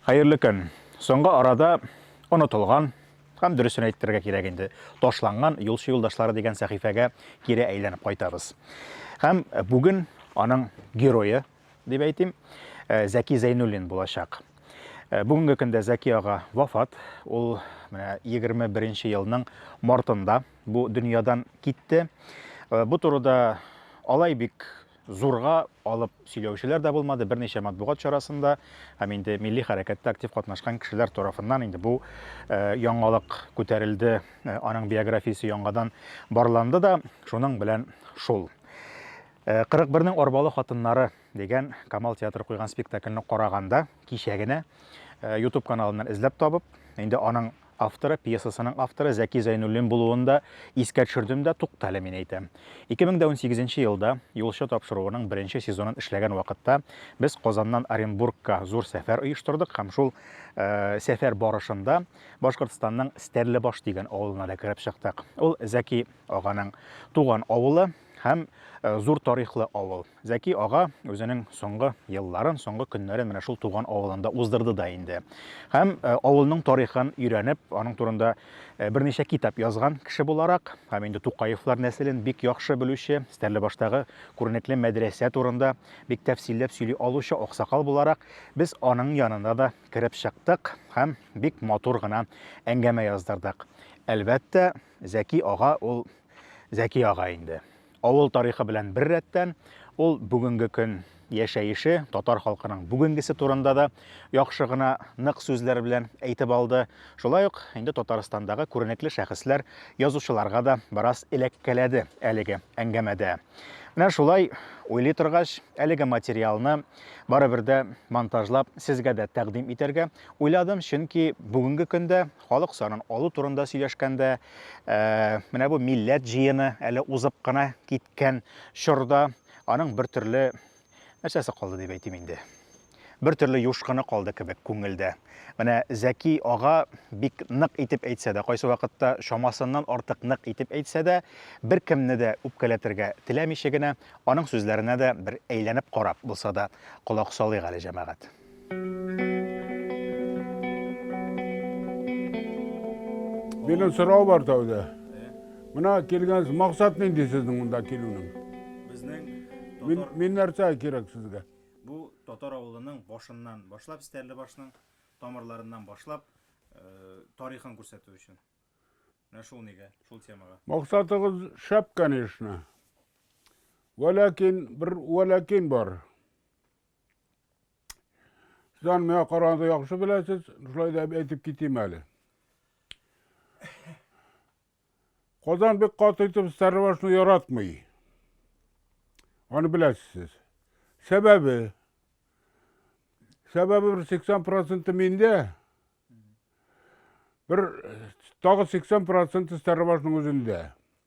Хәерле көн. Соңгы арада онытылган һәм дөресен әйтергә кирәк инде, ташланган юлчы юлдашлары дигән сәхифәгә кире әйләнеп кайтабыз. Һәм бүген аның герое дип әйтим, э, Зәки Зәйнуллин булачак. Э, бүгенге көндә Зәки ага вафат. Ул менә 21 елның мартында бу дөньядан китте. Э, бу турыда алай бик зурга алып сөйләүчеләр дә булмады. Берничә матбугат чарасында һәм инде милли хәрәкәттә актив катнашкан кешеләр тарафыннан инде бу э, яңалык күтәрелде. Э, аның биографиясе яңадан барланды да, шуның белән шул. Ә 41 нең арбалы хатыннары дигән Камал театры куйган спектакльне караганда, кичә генә YouTube каналыннан эзләп табып, инде аның авторы, пьесасының авторы Зәки Зәйнуллин булуын да искә төшердем дә, туктале, мин әйтәм. 2018 нче елда, Юлчы тапшыруының беренче сезонын эшләгән вакытта, без Казаннан Оренбургка зур сәфәр оештырдык һәм шул сәфәр барышында Башкортстанның Стәрлебаш дигән авылына да кереп чыктык. Ул Зәки аганың туган авылы, Һәм зур тарихлы авыл. Зәки ага үзенең соңгы елларын, соңгы көннәрен менә шул туган авылында уздырды да инде. Һәм авылның тарихын өйрәнеп, аның турында берничә китап язган кеше буларак, һәм инде Тукаевлар нәселен бик яхшы белүче, Стәрлебаштагы күренекле мәдрәсә турында бик тәфсилләп сөйли алучы аксакал буларак, без аның янына да кереп чыктык һәм бик матур гына әңгәмә яздырдык. Әлбәттә, Зәки ага ул Зәки ага инде. Авыл тарихы белән бер рәттән, ул бүгенге көн яшәеше, татар халкының бүгенгесе турында да яхшы гына нык сүзләр белән әйтеп алды. Шулай ук инде Татарстандагы күренекле шәхесләр, язучыларга да бераз эләккәләде әлеге әңгәмәдә. Менә шулай уйлый торгач, әлеге материалны барыбер дә монтажлап сезгә дә тәкъдим итәргә уйладым, чөнки бүгенге көндә Халык санын алу турында сөйләшкәндә, менә бу милләт җыены әле узып кына киткән чорда аның бер төрле нәрсәсе калды дип әйтим инде. Бер төрле юшкыны калды кебек күңелдә. Менә Зәки ага бик нык итеп әйтсә дә, кайсы вакытта чамасыннан артык нык итеп әйтсә дә, беркемне дә үпкәләтергә теләмичә генә, аның сүзләренә дә бер әйләнеп карап булса да колак салыйк әле, җәмәгать. Минем сорау бар тәүдә. Мына килгәнсез, максат нинди сезнең монда килүнең? Безнең Мин, мин нәрсә кирәк сезгә? Бу татар авылының башыннан башлап, Стәрле башның тамырларыннан башлап, э, тарихын күрсәтү өчен. Менә шул нигә, шул темага. Максатыгыз шәп, конечно. Вәләкин, бер вәләкин бар. Сездән миңа караганда яхшы беләсез, шулай да әйтеп китим әле. Казан бик каты итеп Старлашны яратмый. Аны беләсез. Сәбәбе Сәбәбе бер 80% миндә. Бер тагы 80% Старлашның үзендә.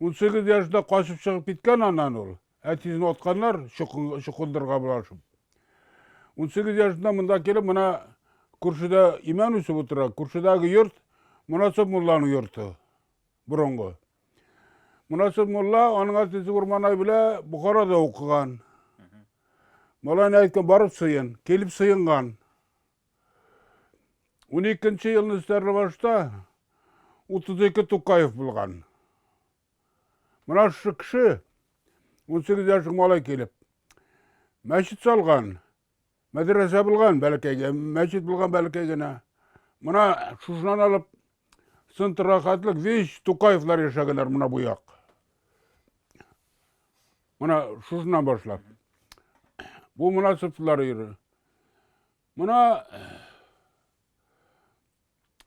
Унсигез яшында качып чыгып киткән аннан ул. Әтисен атканнар чукындырга булашып. Унсигез яшында монда килеп, мына күршедә имән үсеп утыра. Күршедәге йорт Монасып мулланың йорты. Борынгы. Монасып мулла аның әтисе Урманай белән Бухарада укыган. Малайны әйткән барып сыен, килеп сыенган. Уникенче елны Стәрлебашта 32 Тукаев булган. Менә шушы кеше, 18 яшьлек малай килеп, мәчет салган, мәдрәсә булган бәләкәй, мәчет булган бәләкәй генә. Менә шушынан алып, сынты рахатлык, вич Тукаевлар яшәгәннәр менә бу як. Мына шушыннан башлап. Бу мына сыфтлар йөрү. Мына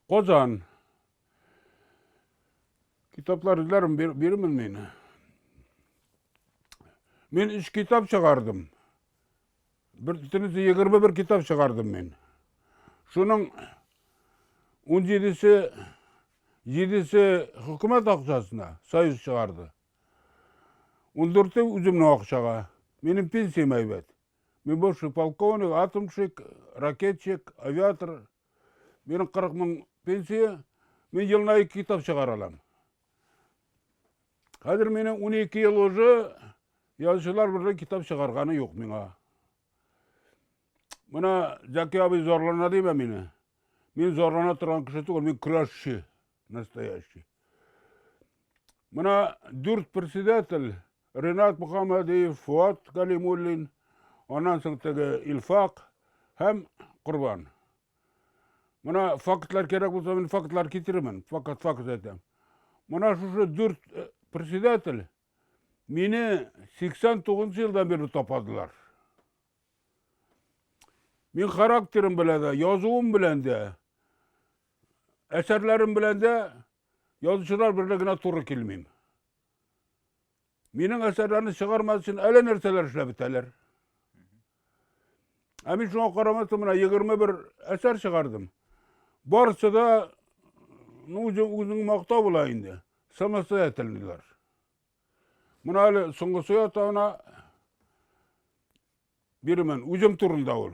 Казан. Китаплар эзләрем бирмен мин. Мин үч китап чыгардым. Бер тенесе 21 китап чыгардым мин. Шуның 17-се 7-се хөкүмәт акчасына союз чыгарды. Ундүрте үземнең акчага. Минем пенсиям әйбәт. Мин бывший полковник, атомщик, ракетчик, авиатор. Минем 40 мең пенсия. Мин елына ике китап чыгара алам. Хәзер минем 12 ел уже язучылар берле китап чыгарганы юк миңа. Менә Зәки абый зарлана димә мине. Мин зарлана торган кеше түгел, мин көрәшче. Настоящий. Мына дүрт председатель, Ренат Мухаммадиев, Фуат Галимуллин, аннан соң теге Илфак һәм Корбан. Мына фактлар кирәк булса, мин фактлар китеремен, факт факт әйтәм. Мына шушы дүрт э, председатель мине 89 елдан бирле тападылар. Мин характерым белән дә, язуым белән дә, әсәрләрем белән дә язучылар берлә генә туры килмим. Минем әсәрләрне чыгармас өчен әле нәрсәләр эшләп бетәләр. Ә мин шуңа карамастан менә 21 әсәр чыгардым. Барысы да ну, үзең мактау була инде. Самостоятельныйлар. Мына әле соңгысы ятана бирмен. Үзем турында ул.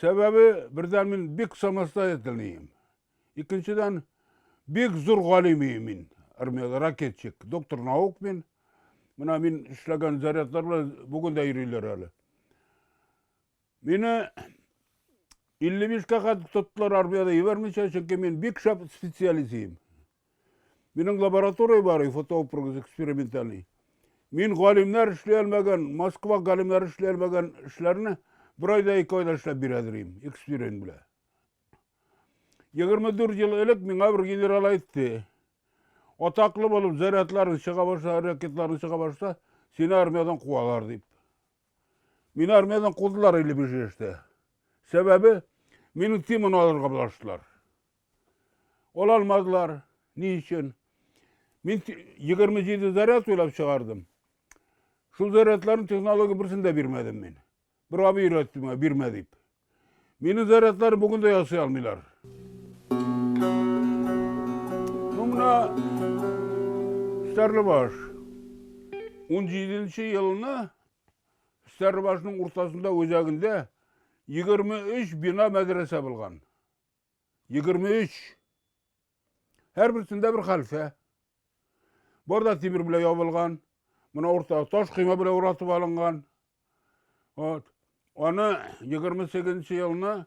Сәбәбе, бердән мин бик самостоятельныйым. Икенчедән, бик зур галим мин. Армияда ракетчик, доктор наук мин. Менә мин эшләгән зарядлар белән бүген дә йөриләр әле. Мине 55 кә кадәр тоттылар армияда ебәрмичә, чөнки мин бик шәп специалист идем. Минем лаборатория бар, и фотопрогез экспериментальный. Мин галимнәр эшли алмаган, Москва галимнәр эшли алмаган эшләрне бер айда ике айда эшләп бирә дирим, эксперимент белән. 24 ел элек миңа бер генерал әйтте. Атаклы булып, зарядларын чыга башласа, ракетларын чыга башласа, сине армиядан куалар дип. Мин армиядан кудылар или бежеште. Сәбәбе, мине тимон алырга булаштылар. Ала алмадылар. Ни өчен? Мин 27 заряд уйлап чыгардым. Шул зарядларны технология берсен дә бирмәдем мин. Бер абый өйрәтте миңа, бирмә дип. Минем зарядлар бүген дә ясый алмыйлар. Ну, менә Стәрлебаш. 17 елына Стәрлебашның уртасында үзәгендә 23 бина мәдрәсә булган. 23. Һәр берсендә бер хәлфә. Барда тимер белән ябылган. Менә уртага таш койма белән уратып алынган. Вот. Аны 28 елны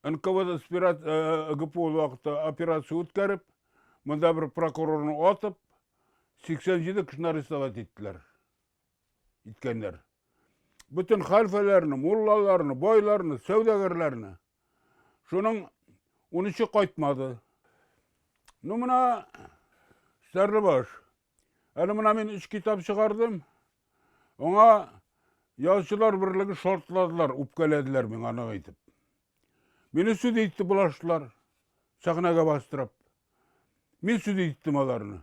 НКВД спират, э, ГПУ вакытта операция үткәреп, монда бер прокурорны атып, 87 кешене арестовать иттеләр. иткәннәр. Бөтен хәлфәләрне, муллаларны, байларны, сәүдәгәрләрне. Шуның унычы кайтмады. Ну, менә Сәрлебаш. Әле менә мин өч китап чыгардым. Аңа ялчылар берлеге шартладылар, үпкәләделәр миңа нык итеп. Мине сүз итте булаштылар, сәхнәгә бастырып. Мин сүз иттем аларны.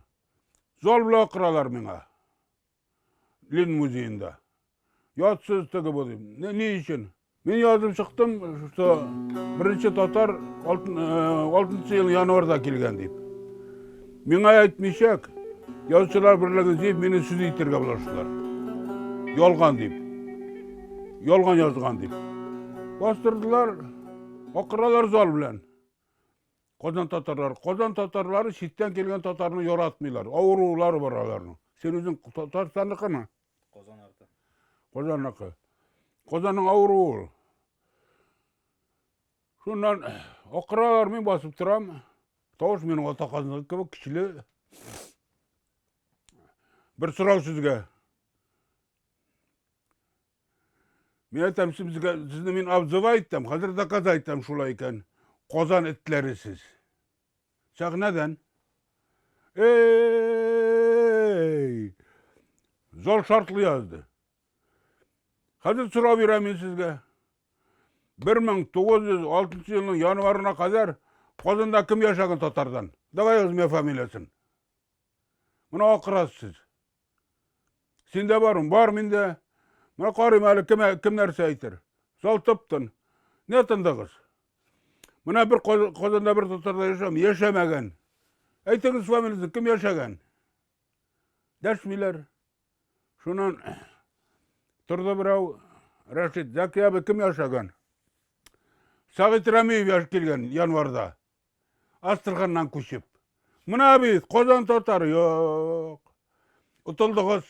Зал белән акыралар миңа. Лен музеенда. Ятсыз теге бу дим. Ни, ни өчен? Мин язып чыктым, что беренче татар алтын, э, алтынчы ел январда килгән дип. Миңа әйтмичәк, язучылар берлеге дип мине сүз итергә булаштылар. Ялган дип. Ялган язган дип. Бастырдылар, акыралар зал белән. Казан татарлары. Казан татарлары читтән килгән татарны яратмыйлар. Авырулары бар аларның. Син үзең Татарстанныкымы? Казан арты. Казанныкы. Казанның авыруы. Шуннан акыралар, мин басып торам. Тавыш минем ата казанлык кебек көчле. Бер сорау сезгә. Мин әйтәм, сезгә сезне мин абзывай итәм, хәзер доказа итәм шулай икән. Казан этләре сез. Сәхнәдән. Эй! Зал шартлый язды. Хәзер сорау бирәм мин сезгә. 1906 елның январына кадәр Казанда кем яшәгән татардан? Давай язмыя фамилиясын. Мына акрас сез. Синдә бар ун? Бар миндә. Менә карыйм әле кем, кем нәрсә әйтер. Зал тып-тын. Не тындыгыз? Менә бер Казанда бер татарда яшәм, яшәмәгән. Әйтегез фамилиясен, кем яшәгән? Дәшмиләр. Шуннан торды берәү, Рәшит, Зәки абый кем яшәгән? Сәгыйть Рәмиев яшь килгән январда. Астырганнан күчеп. Мына бит, Казан татар, юк. Утылдыгыз.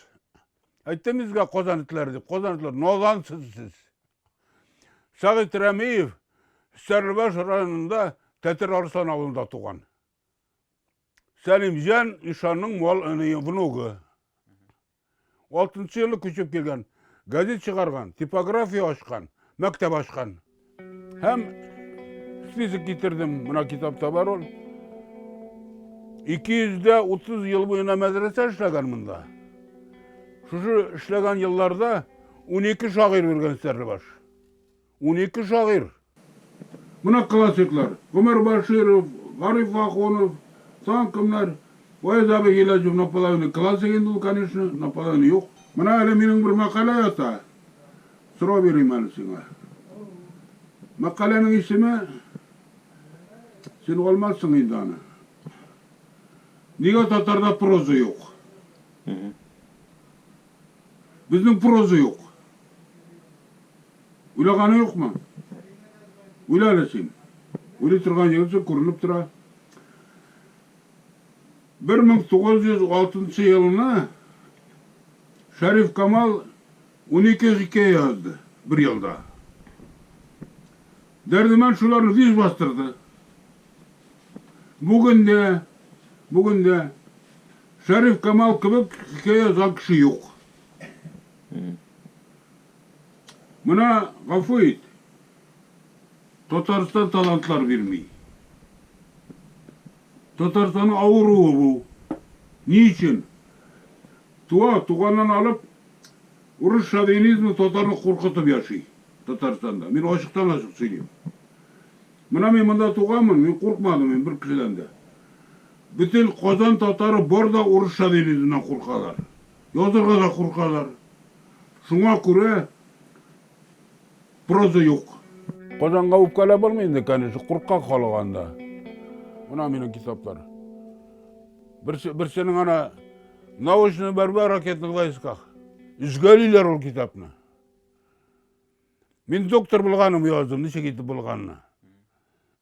Әйттем безгә Казан итләре дип, Казан итләре, назансыз сез. Сәгыйть Рәмиев Сәрлебаш районында Тәтер Арслан авылында туган. Сәлимҗан ишанның мал внугы. Алтынчы елы күчеп килгән, газет чыгарган, типография ачкан, мәктәп ачкан. Һәм список китердем, менә китапта бар ул. 230 ел буена мәдрәсә эшләгән монда. Шушы эшләгән елларда 12 шагыйрь үргән сәрле баш. Унике шагыйрь. Менә классиклар, Гомәр Баширов, Гариф Ахунов, тагын кемнәр? Ваяз абый Гыйләҗев, Наполовины классик инде ул, конечно, наполовины юк. Менә әле минем бер мәкалә ята, сорау бирим әле сиңа. Мәкаләнең исеме, син алмассың инде аны. Нигә татарда проза юк? Безнең проза юк. Уйлаганы юкмы? Уйла әле син. Уйлый торган егетсең, күренеп тора. 1906 елына Шәриф Камал 12 хикәя язды бер елда. Дәрдемән шуларны виз бастырды. Бүген дә, бүген дә Шәриф Камал кебек хикәя язган кеше юк. Менә гафу ит. Татарстан талантлар бирми. Татарстанның авыруы бу. Ни өчен? Туа, туганнан алып, урыс шовинизмы татарны куркытып яши Татарстанда. Мин ачыктан ачык сөйлим. Менә мин монда туганмын, мин куркмадым мин бер кешедән дә. Бөтен Казан татары бар да урыс шагыйреннән куркалар. Язырга да куркалар. Шуңа күрә проза юк. Казанга үпкәләп булмый инде, конечно, куркак халык анда. Менә минем китаплар. Берсе, берсенең ана Научная борьба в ракетных войсках. Өзгәлиләр ул китапны. Мин доктор булганым яздым, ничек итеп булганны.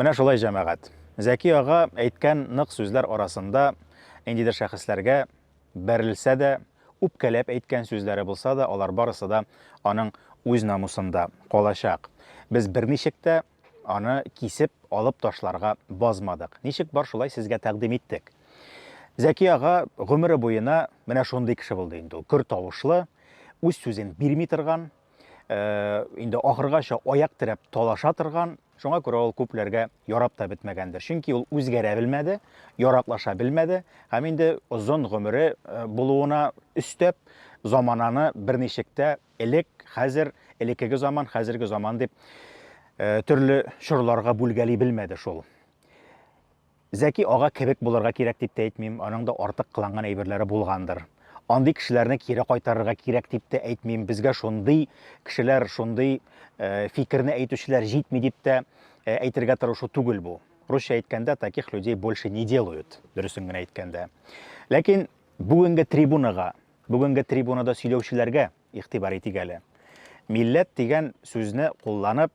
Менә шулай, җәмәгать. Зәки ага әйткән нык сүзләр арасында ниндидер шәхесләргә бәрелсә дә, үпкәләп әйткән сүзләре булса да, алар барысы да аның үз намусында калачак. Без берничек тә Аны кисеп, алып ташларга базмадык. Ничек бар, шулай сезгә тәкъдим иттек. Зәки ага гомере буена менә шундый кеше булды инде ул. Көр тавышлы, үз сүзен бирми торган, э, инде ахыргача аяк терәп талаша торган, Шуңа күрә ул күпләргә ярап та бетмәгәндер. Чөнки ул үзгәрә белмәде, яраклаша белмәде һәм инде озын гомере э, булуына өстәп, замананы берничек тә Элек, хәзер, элеккеге заман, хәзерге заман дип төрле чорларга бүлгәли белмәде шул. Зәки ага кебек булырга кирәк дип тә әйтмим, аның да артык кыланган әйберләре булгандыр. Андый кешеләрне кире кайтарырга кирәк дип тә әйтмим. Безгә шундый кешеләр, шундый э, фикерне әйтүчеләр җитми дип тә э, әйтергә тырышу түгел бу. Русча әйткәндә таких людей больше не делают, дөресен генә әйткәндә. Ләкин бүгенге трибунага Бүгенге трибунада сөйләүчеләргә игътибар итик әле. Милләт дигән сүзне кулланып,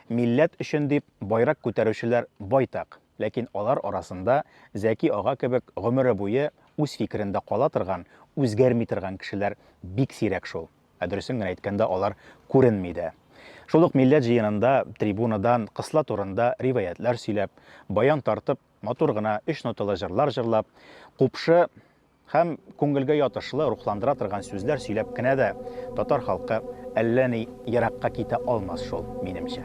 милләт өчен дип байрак күтәрүчеләр байтак. Ләкин алар арасында Зәки ага кебек гомере буе үз фикерендә кала торган, үзгәрми торган кешеләр бик сирәк шул. Ә дөресен генә әйткәндә, алар күренми дә. Шул ук милләт җыенында трибунадан кысла турында риваятьләр сөйләп, баян тартып, матур гына өч ноталы җырлар җырлап, купшы, Һәм күңелгә ятышлы, рухландыра торган сүзләр сөйләп кенә дә татар халкы әллә ни еракка китә алмас шул, минемчә.